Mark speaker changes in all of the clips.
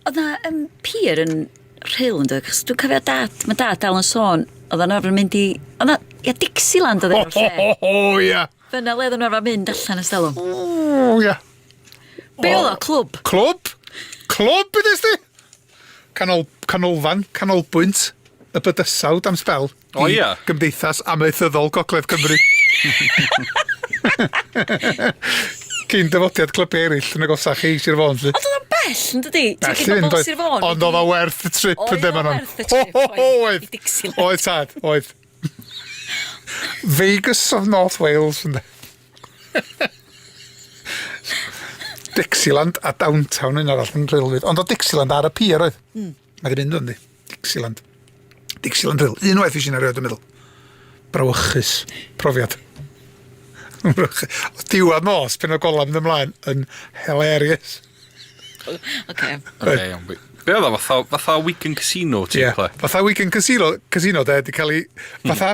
Speaker 1: Oedd 'na yym pier yn Rhyl yndoedd? Achos dwi'n cofio dad, mae dad dal yn sôn, oedd o'n arfer mynd i... Oedd 'na... Ia, Dixieland oedd enw'r lle. O, o, o, o, ia! Dyna
Speaker 2: le oedden nhw arfer
Speaker 1: mynd allan ers talwm. O, ia.
Speaker 2: Be
Speaker 1: oedd o, clwb? Clwb!
Speaker 2: Clwb, ydes di? Canol, canolfan, canolbwynt y bydysawd am sbel. O ia? I Gymdeithas
Speaker 3: Amaethyddol
Speaker 2: Gogledd Cymru. Cyn dyfodiad clybiau eraill yn agosach chi, Sir Fôn, lly. Ond oedd o'n bell, yn
Speaker 1: dydi? Bell i fynd, oedd.
Speaker 2: Ond oedd o werth y trip, yn ddim yn o'n. Oedd, oedd, tad, oedd. Vegas of North Wales, ynddo. Dixieland a Downtown yn arall yn rheilwyd. Ond o Dixieland ar y pier oedd. Mm. Mae ddim ynddo, yndi? Dixieland. Dixieland Hill. Un waith eisiau erioed yn meddwl. Brawychus. Profiad. o diwedd nos, pen o golaf yn ymlaen, yn hilarious. Oce. Okay.
Speaker 1: Okay, iawn.
Speaker 3: Be oedd o, fatha, fatha Wigan Casino, ti'n yeah. Fatha Wigan Casino,
Speaker 2: casino de, di cael ei... Hmm. Fatha,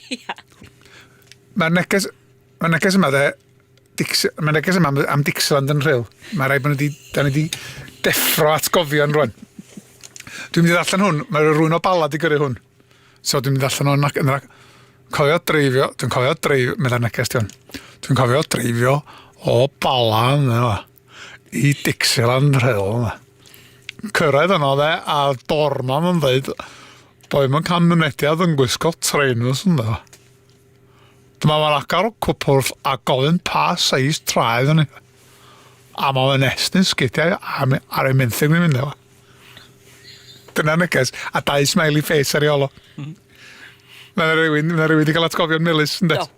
Speaker 2: Ia. Mae'r neges, mae'r neges yma dde, Dix, mae'r neges yma am, am Dixland yn rhyl. Mae rhaid bod ni wedi, da ni wedi deffro atgofion rwan. Dwi'n mynd i ddarllen hwn, mae rhywun o balad i gyrru hwn. So dwi'n mynd i ddarllen hwn ac yn rhaid... Cofio dreifio, dwi'n cofio dreifio, meddai'r neges dion. Dwi'n cofio dreifio o bala yna. i Dixieland rheol yma. Cyrraedd yno dde, a dorman yn dweud, doedd yn cael mynediad yn gwisgo trainers yn dda. Dyma mae'n agor y cwpwrdd a gofyn pa seis traed yn ei. A mae fe'n estyn sgidiau ar ei menthyg ni'n mynd efo. Dyna neges, a dau smiley face ar ei olo. Mm. Mae rhywun, mae rhywun wedi cael atgofion melus yn dweud.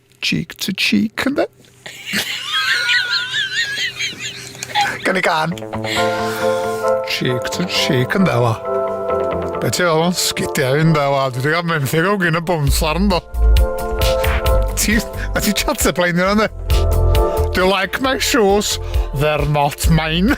Speaker 2: Cheek to cheek, ynddo? Gan i gan. Cheek to cheek, ynddo, wa. Be ti fel o'n sgidiau, ynddo, wa. Dwi wedi cael menthyg o gyn y bwnslar, ynddo. Ti, a ti chat y blaen yna, ynddo? Do you like my shoes? They're not mine.